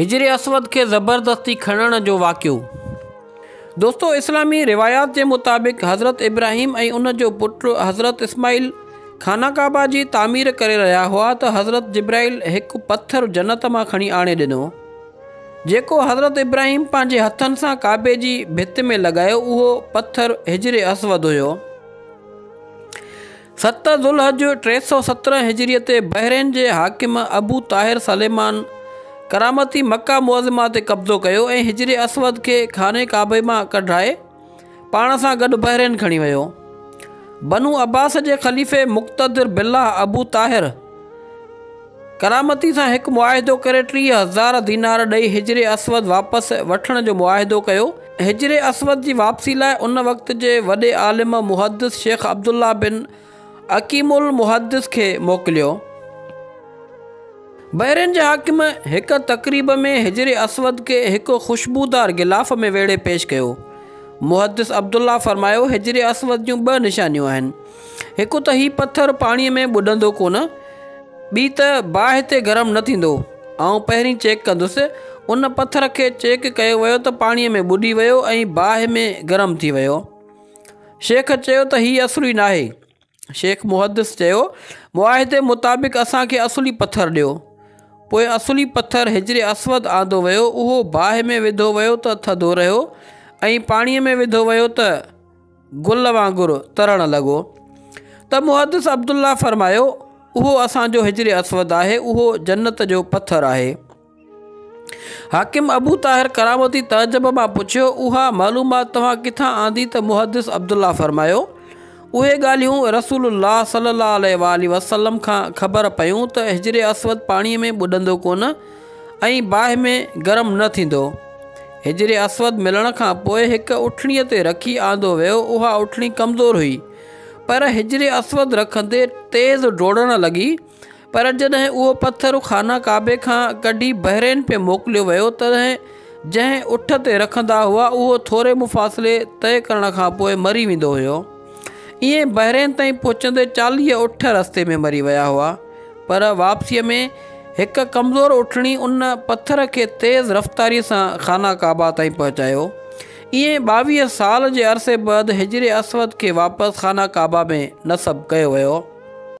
حجر اسود کي زبردستي کڻڻ جو واقعو دوستو اسلامي روايات جي مطابق حضرت ابراهيم ۽ ان جو پٽ حضرت اسماعيل خانه ڪعبه جي تعمير ڪري رهيا هئا ته حضرت جبرائيل هڪ پٿر جنت مان کڻي آڻي ڏنو جيڪو حضرت ابراهيم پنهنجي هٿن سان ڪعبي جي ڀت ۾ لڳايو اهو پٿر حجر اسود هيو ست ذوالحج ٽي سؤ سترهن هجريء تي بحرين جي حاڪم ابو طاهر سليمان ڪرامتي مڪه معظمه تي قبضو ڪيو ۽ حجر اسود کي خانه ڪعبي مان ڪڍرائي پاڻ سان گڏ بحرين کڻي ويو. بنو عباس جي خليفي مقتدر بالله ابو طاهر، ڪرامتي سان هڪ معاهدو ڪري ٽيهه هزار دينار ڏئي حجر اسود واپس وٺڻ جو معاهدو ڪيو. حجر اسود جي واپسي لاء ان وقت جي وڏي عالم محدث شيخ عبدالله بن اقيم المحدث کي موڪليو. بحرين جي حاڪم هڪ تقريب ۾ حجر اسود کي هڪ خوشبودار غلاف ۾ ويڙهي پيش ڪيو. محدث عبدالله فرمايو، حجر اسود جون ٻه نشانيون آهن. هڪ ته هي پٿر پاڻيء ۾ ٻڏندو ڪونه، ٻي ته باهه تي گرم نه ٿيندو. آئون پهرين چيڪ ڪندس. ان پٿر کي چيڪ ڪيو ويو ته پاڻيء ۾ ٻڏي ويو ۽ باهه ۾ گرم ٿي ويو. شيخ چيو ته هي اصلي ناهي. شيخ محدث چيو، معاهدي مطابق اسان کي اصلي پٿر ڏيو. پوء اصلي پٿر حجر اسود آندو ويو، اهو باهه ۾ وڌو ويو ته ٿڌو رهيو ۽ پاڻيء ۾ وڌو ويو ته. گل وانگر ترڻ لڳو ته محدث عبدالله فرمايو اهو اسان جو حجر اسود آهي اهو جنت جو پٿر آهي حاڪم ابو طاهر ڪرامتي تعجب مان پڇيو اها معلومات توهان ڪٿان آندي ته محدث عبدالله فرمايو اهي ڳالهيون رسول الله صلي الله عليه وآله وسلم کان خبر پيون ته حجر اسود پاڻي ۾ ٻڏندو ڪونه ۽ باهه ۾ گرم نه ٿيندو. حجر اسود ملڻ کان پوء هڪ اٺڻي تي رکي آندو ويو، اها اٺڻي ڪمزور هئي، پر حجر اسود رکندي تيز ڊوڙڻ لڳي، پر جڏهن اهو پٿر خانه ڪعبي کان ڪڍي بحرين پي موڪليو ويو تڏهن جنهن اٺ تي رکندا هئا اهو ٿوري مفاصلي طئي ڪرڻ کان پوء مري ويندو هيو، ائين بحرين تائين پهچندي چاليهه اٺ رستي ۾ مري ويا هئا. پر واپسيء ۾ هڪ ڪمزور اٺڻي ان پٿر کي تيز رفتاريء سان خانه ڪعبه تائين پهچايو. ائين ٻاويهه سال جي عرصي بعد حجر اسود کي واپس خانه ڪعبه ۾ نصب ڪيو ويو.